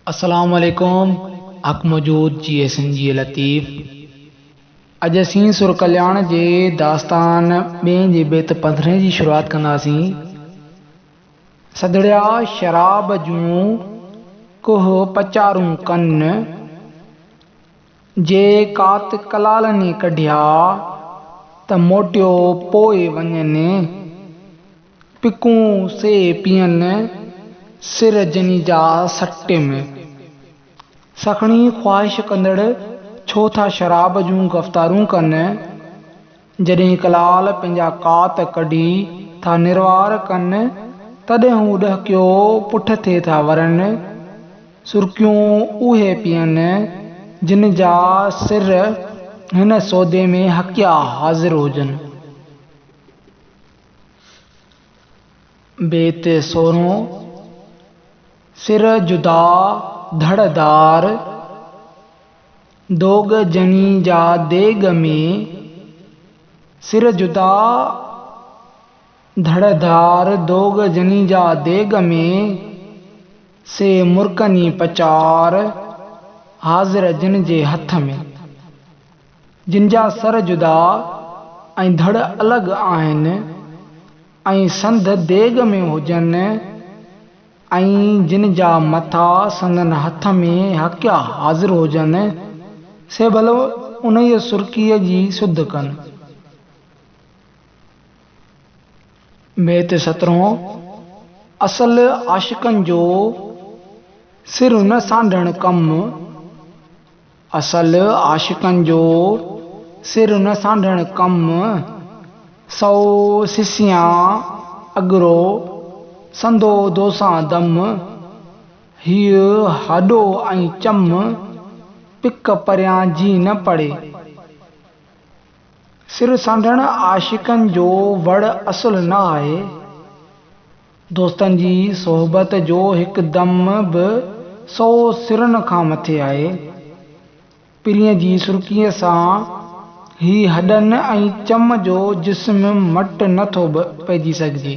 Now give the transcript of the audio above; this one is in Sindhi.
السلام عليڪم حق موجود G S N G Latif اڄ اسين سر ڪلياڻ جي داستان ٻين جي بيت پندرهين جي شروعات ڪنداسين سڌڙيا شراب جون ڪوهه پچارون ڪن جي ڪات ڪلالني ڪڍيا ته موٽيو پوء وڃن پڪون سي پيئن سر جني جا سٽيم. سکڻي خواهش ڪندڙ ڇو ٿا شراب جون گفتارون ڪن، جڏهن ڪلال پنهنجا ڪات ڪڍي ٿا نروار ڪن، تڏهن هو ڏهڪيو پٺ ٿي ٿا ورن. سرڪيون اهي پيئن، جن جا سر هن سودي ۾ هڪيا حاضر هجن. بيت سورهون، سر جدا ڌڙ دار، دوڳ ڄڻي جا ديڳ ۾، سر جدا ڌڙ ڌار، دوڳ ڄڻي جا ديڳ ۾، سي مرڪني پچار، حاضر جن جي هٿ ۾. جن جا سر جدا ۽ ڌڙ الڳ آهن ۽ سنڌ ديڳ ۾ هجن ۽ جن جا مٿا سندن هٿ ۾ هڪيا حاضر هجن، سي ڀل انهيء سرڪيء جي سڌ ڪن. بيت سترهون، اصل عاشقن جو سر نه سانڍڻ ڪم. اصل عاشقن جو سر نه سانڍڻ ڪم، سئو سسيان اڳرو سندو دوسان دم، هيء هڏو ۽ چم، پڪ پريان جي نه پڙي. سر سانڍڻ عاشقن جو وڙ اصل نه آهي. دوستن جي صحبت جو هڪدم به سؤ سرن کان مٿي آهي. پرينء جي سرڪيء سان هي هڏن ۽ چم جو جسم مٽ نه ٿو پئجي سگهجي.